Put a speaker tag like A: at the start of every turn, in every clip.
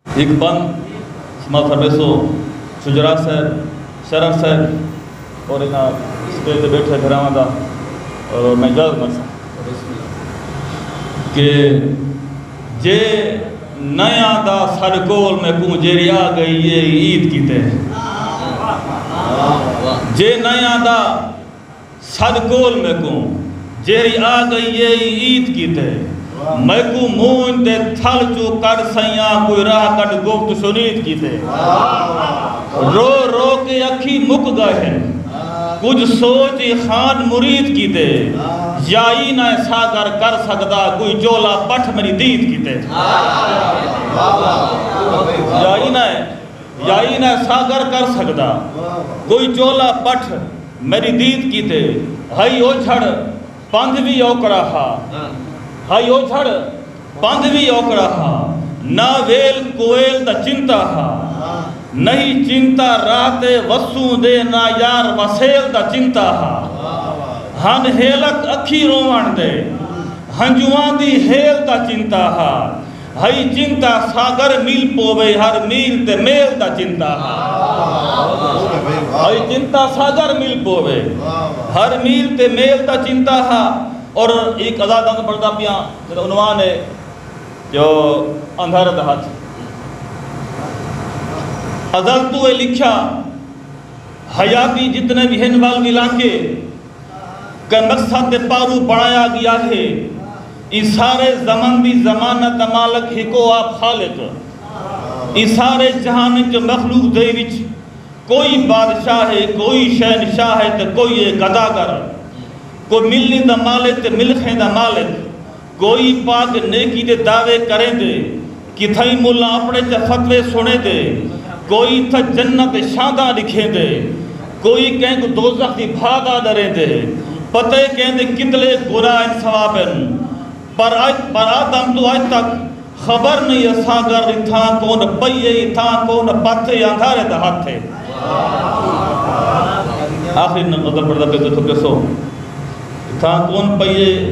A: ہک بند سما فرمیسو شجرا صاحب شرف صاحب اور انہاں اسٹیج تے بیٹھے بھراواں دا اور میں اجازت منگساں کہ جے نیا دا ساڈے کول میں کوں جیری آ گئی اے عید کیتے جے نیا دا سݙ کول میکوں جیہڑی آ گئی اے ای عید کیتے میکوں مونجھ دے تھل چوں کڈھ سئیاں کوئی راہ کڈھ گفت شنید کیتے رو رو کے اکھیں مک گئے ہن کجھ سوچ ای خان مرید کیتے یا ای نہ ساگر کر سگدا کوئی جولا پٹھ میݙی دید کیتے یا ای نہ یائی نہ ساغر کر سگدا کوئی چولا پٹھ میڈی دید کیتے ہئی اوجھڑ پندھ وی اوکڑا ہا ہئی اوجھڑ پندھ وی اوکڑا ہا نہ ویل کویل دا چنتا ہا نہی چنتا راہ تے وسوں دے نہ یار وسیل دا چنتا ہا ہن ہیلک اکھی روون دے ہنجواں دی ہیل دا چنتا ہا۔ ہئی چنتا ساگر مل پووے ہر میل تے میل دا چنتا ہا ہئی چنتا ساگر مل پووے ہر میل تے میل دا چنتا ہا اور ایک ازاد اندھ پڑھتا پیا جنہوں عنوان ہے جو اندھر دا ہاتھ ازل تو اے لکھا حیاتی جتنے بھی ہن وال ملا کے کنسہ تے پارو بݨایا ڳیا ہے۔ ایں سارے زمن دی ضمانت دا مالک ہکو آپ خالق ہے۔ ایں سارے جہان وچ جو مخلوق دے وچ کوئی بادشاہ ہے، کوئی شہنشاہ ہے تے کوئی ہے گدا گر۔ کوئی ملنی دا مالک تے ملخیں دا مالک۔ کوئی پاک نیکی دے دعوے کریندے کتھائیں ملاں اپݨے تے فتوے سݨیندے کوئی تھا جنت دے شانداں ݙکھیندے کوئی کہیں کوں دوزخ دی بھا دا ݙریندے پتہ اے کیندے کتلے گناہ ہن ثواب ہن پر اج پر آدم توں اج تک خبر نئیں اساں گھر دی تھاں کون پئی اے تھاں کون پتھ اے اندھارے دا ہتھ اے آخری نظر پڑھدا پئے تساں ݙسو تھاں کون پئی اے۔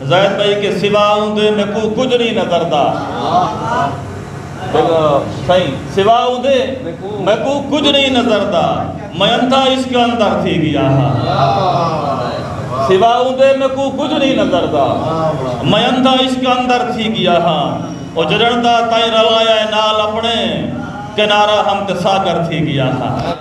A: زید بھائی کے سوا اوندے میکو کجھ نہیں نظر دا سائیں سوا اوندے میکو کجھ نہیں نظر دا میں انتھا اس کے اندر تھی گیا سوا اوندے میکو کجھ نہیں نظر دا میں انتھا اس کے اندر تھی گیا ہاں او جڑن دا تائیں رلایا ہے نال اپنے کنارہ ہم کے ساگر تھی گیا ہاں